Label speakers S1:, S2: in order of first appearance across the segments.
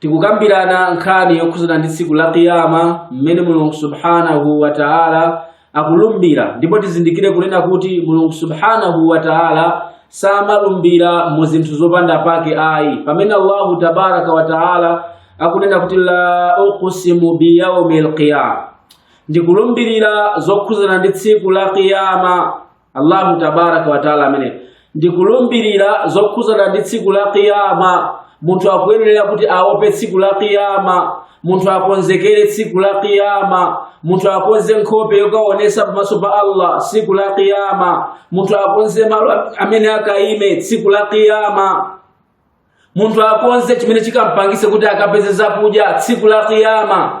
S1: tikukambirana nkhani yokhudzana ndi tsiku la kiyama mmene mulungu subhanahu wa taala akulumbira ndipo tizindikire kunena kuti mulungu subhanahu wa taala samalumbira mu zinthu zopanda pake ayi pamene allahu tabaraka wa taala akunena kuti la uqsimu biyaumi lqiyama ndikulumbirira zokhudzana ndi tsiku la kiyama Allahu tabaraka wa taala amene ndikulumbirira zokhuzana ndi tsiku la kiyama munthu akuyenera kuti aope tsiku la kiyama munthu akonzekere tsiku la kiyama munthu akonze nkhope yokaonesa pamaso pa allah tsiku la kiyama munthu akonze malo amene akaime tsiku la kiyama munthu akonze chimene chikampangise kuti akapeze zakudya tsiku la kiyama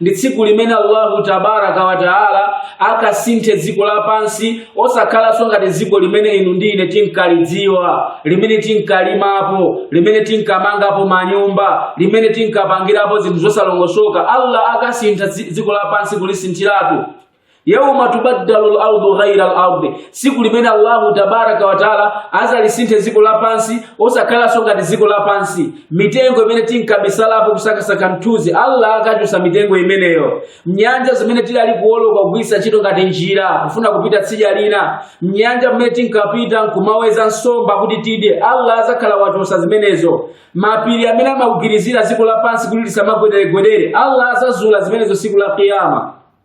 S1: ndi tsiku limene allahu tabaraka wataala akasinthe dziko lapansi osakhalanso ngati dziko limene inu ndi ine tinkalidziwa limene tinkalimapo limene tinkamangapo manyumba limene tinkapangirapo zinthu zosalongosoka allah akasintha dziko lapansi kulisinthiratu yauma tubaddalu lardu ghaira lardi siku limene allahu tabaraka wataala azalisinthe dziko lapansi osakhalanso ngati dziko lapansi mitengo imene tinkabisalapo kusakasaka mthunzi allah akachosa mitengo imeneyo nyanja zimene tidali kuoloka kugwiritsa ntchito ngati njira kufuna kupita tsidya lina mnyanja mmene tinkapita nkumaweza nsomba kuti tidye allah azakhala wachosa zimenezo mapiri amene amagwirizira dziko lapansi kuti lisamagwederegwedere allah azazula zimenezo siku la kiyama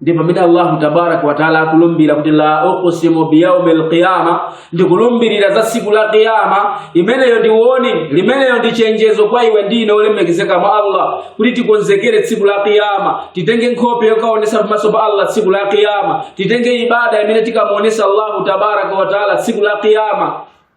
S1: ndipo pamene allahu tabaraka wataala akulumbira kuti la uqsimu biyaumi lqiyama ndikulumbirira za siku la qiyama imeneyo ndi warning imeneyo ndi chenjezo kwa iwe ndi ine olemekezeka mwa allah kuti tikonzekere tsiku la qiyama titenge nkhope yokaonesa pamaso pa allah tsiku la qiyama titenge ibada imene tikamuonesa allahu tabaraka wataala tsiku la qiyama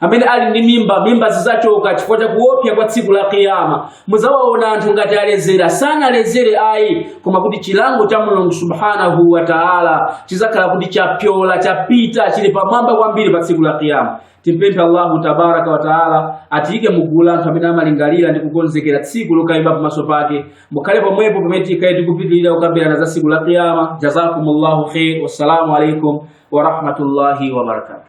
S1: amene ali ndi mimba mimba zidzachoka chifukwa cha kuophya kwa tsiku la kiyama mudzawaona anthu ngati alezera sanalezere ayi koma kuti chilango cha mulungu subhanahu wa taala chidzakhala kuti chapyola chapita chili pamwamba kwambiri pa tsiku la kiyama timpemphe allahu tabaraka wa taala atiyike mugulu la anthu amene amalingalira ndi kukonzekera tsiku lokayima pamaso pake mukhale pomwepo pamene tikhale tikupitirira kukambirana za tsiku la kiyama jazakumullahu khair wassalamu alaikum warahmatullahi wabarakatu